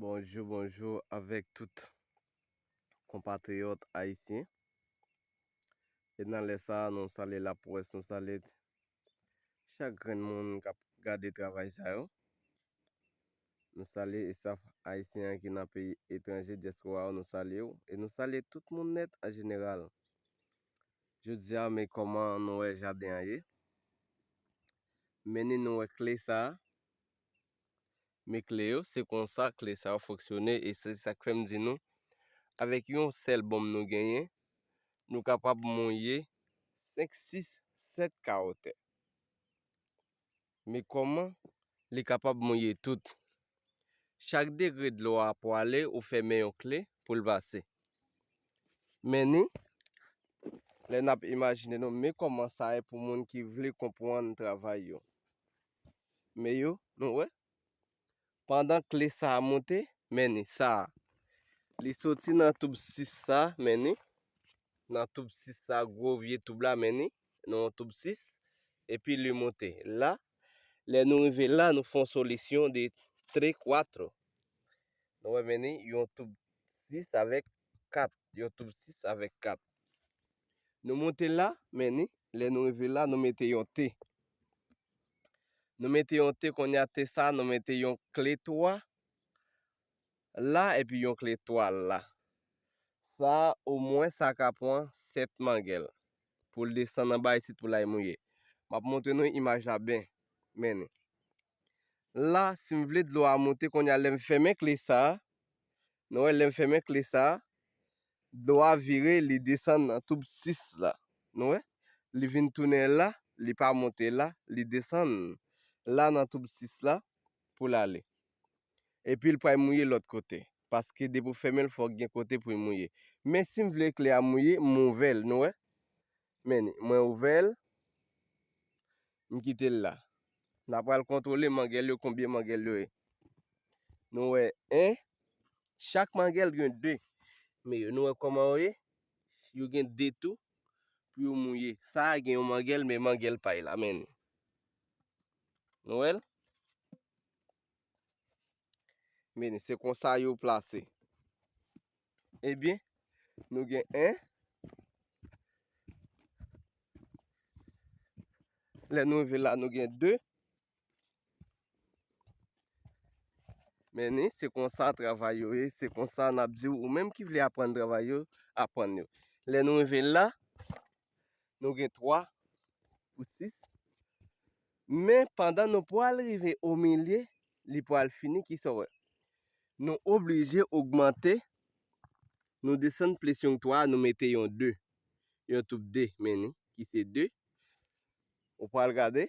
Bonjou, bonjou avèk tout konpatriyòt ayisyen. E nan lè sa a, nou salye laprès, nou salye chak grenn moun k ap gade travay sa yo. Nou salye estaf ayisyen an ki nan peyi etranje, dyaspora yo, nou salye yo. E nou salye tout moun nèt an jeneral. Jodi a, men kòman nou wè jaden an ye. mennen nou wè kle sa a. Men kle yo, se konsa kle sa yo fonksyone e se sa k fè m di nou avèk yon sèl bonm nou genyen, nou kapab monye 5, 6, 7 kawotè. Men kòman li kapab monye tout? Chak degre dlo a pwale ou fèmen yon kle pou l pase. Men ni, lè n ap imajine nou men kòman sa ye pou moun ki vle konpwann travay yo. Men yo, nou wè, pandan kle sa a moute, men ni, sa a, li soti nan toub 6 sa a, men ni, nan toub 6 sa a, gwo vye toub la, men ni, nan yon toub 6, epi li monte. La, lè nou rive la, nou fè yon solisyon de tre kwatro. Nou wè meni yon toub 6 avèk 4. Yon toub 6 avèk 4. Nou monte la, meni, lè nou rive la, nou mete yon te. Nou mete yon te, konya te sa, nou mete yon kle 3. la epi yon kle twal la. Sa a omwen sa ka pran 7 mangèl pou l desann anba isit pou l al mouye. M ap montre nou imaj la byen. Men ni. La, si m vle dlo a monte kounye a lè m fèmen kle sa a, nou wè lè m fèmen kle sa a, dlo a vire li desann nan toub 6 la. Nou wè? Li vin tounen la, li pa monte la, li desann la nan toub 6 la pou l ale. Epil pral mouye lòt kote. Paske depi ou fèmenl fòk gen kote poul mouye. Men sim vle kle a mouye m ouvel nou wè. Men ni mwen ouvel m kitel la. Na pral kontwole mangel yo konbyen mangel yo ye. Nou wè 1 chak mangel gen 2 men yo nou wè koman yo ye. Yo gen 2 tou pou yo mouye. Sa gen yon mangel men mangel pay la men ni. Nou wèl. Meni, se konsa yo plase. Ebyen, nou gen 1. Lè nou rive la, nou gen 2. Meni, se konsa travay yo ye. Se konsa nap di ou menm ki vle aprann travay yo, aprann yo. Lè nou rive la, Nou gen 3 pou 6. Men pandan nou pral rive o milye, li pral fini ki sa wè. Nou oblije ogmante, nou desann plis yon 3, nou mete yon 2. Yon toub 2 men ni, ki se 2. Ou pral gade.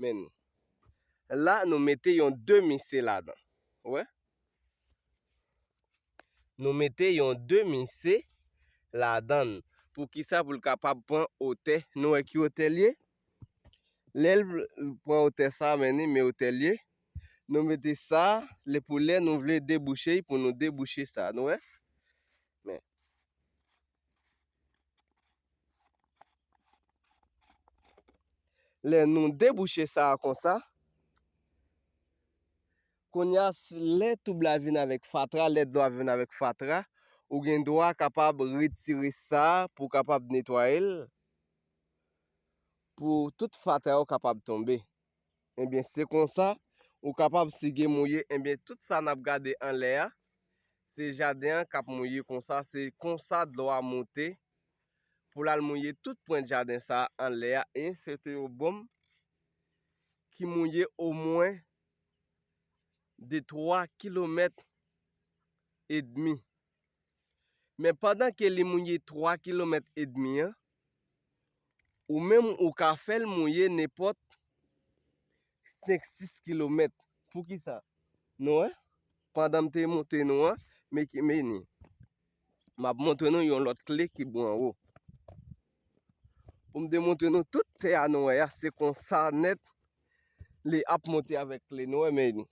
Men nou. La nou mete yon demi se ladan. Ou wè? Nou mete yon demi se ladan. Pou ki sa pou l kapab pran otè. Nou wè ki otè l ye? Lè l pran otè sa men ni men otè l ye. Nou mete sa le pou lè nou vle debouche pou nou debouche sa. Nou wè? Lè nou debouche sa a konsa, kounye a lè toub la vin avèk fatra, lè dlo a vin avèk fatra, ou gen dwa kapab retire sa a pou kapab netwaye l, pou tout fatra yo kapab tonbe. Ebyen se konsa ou kapab sige mouye ebyen tout sa nap gade anlè a se jaden an kap mouye konsa se konsa dlo a moute pou lal mouye tout pwen jaden sa anlè a e se te yon bonm ki mouye omwen de 3 kilomèt edmi. Men pandan ke li mouye 3 kilomèt edmi an, ou menm ou ka fè l mouye nenpòt 5-6 kilomèt. Poukisa? Nou wè? Pandan m te monte nou an, men ki meni. M ap montre nou yon lòt kle ki bò anwo. Pou m te montre nou tout tè a nou wè a, se konsa nèt li ap monte avèk kle nou wè meni.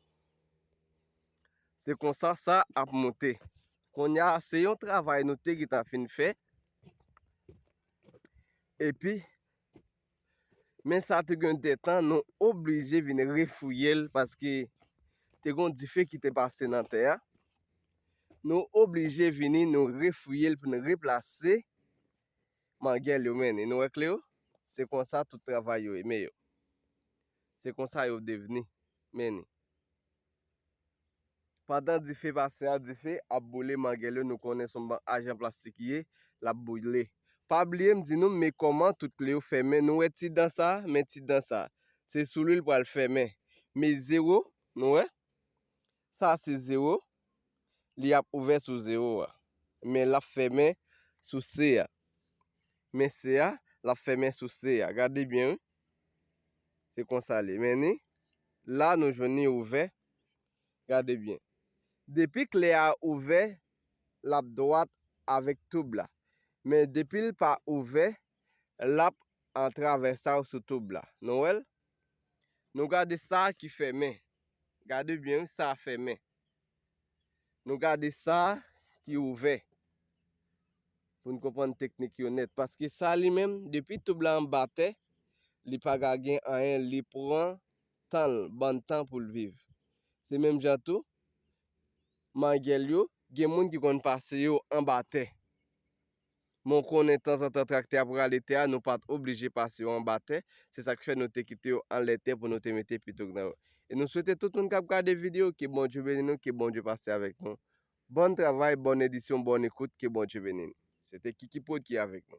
Se konsa sa ap moute. Konya se yon travay nou te gitan fin fè. E pi, men sa te gen de tan nou oblije vin refouye l paske te gon dife ki te pase nan tè a. Nou oblije vini nou refouye l pou nou replase mangèl yo men. E nou wèk le yo, se konsa tout travay yo e men yo. Se konsa yo devni men. Pandan dife pase a dife ap boule manguele nou konnen son bank ajan plastik ye lap boule pa bliye m di nou me koman tout kle yo fèmen nou wè ti dan sa men ti dan sa se sou li l pral fèmen me zero nou wè sa se zero li ap ouvè sou zero a men lap fèmen sou se a men se a lap fèmen sou se a gade byen wi Se konsa li men ni. La nou jwenn ni ouvè. Gade byen. Depi kle a ouvè, l ap dwat avèk toub la. Men depi l pa ouvè, l ap an travèsal sou toub la. Nou wè l? Nou gade sa ki fèmen. Gade byen wi, sa fèmen. Nou gade sa ki ouvè pou n konprann teknik yo nèt. Paske sa li menm, depi toub la anba tè, li pa ka gen anyen, li pran tan l, bann tan pou l viv. Se menm jan tou, mangèl yo, gen moun ki konn pase yo anba tè. Men w konnen tanzantan traktè ap rale tè a, nou pa t oblije pase yo anba tè, se sa k fè nou te kite yo anlè tè pou nou te mete pitouk nan yo. E nou swete tout moun k ap gade videyo, ke Bondye beni nou, ke Bondye pase avèk nou. Bòn travay, bòn edisyon, bòn ekout, ke Bondye beni nou. Se te Kikiprod ki avèk nou.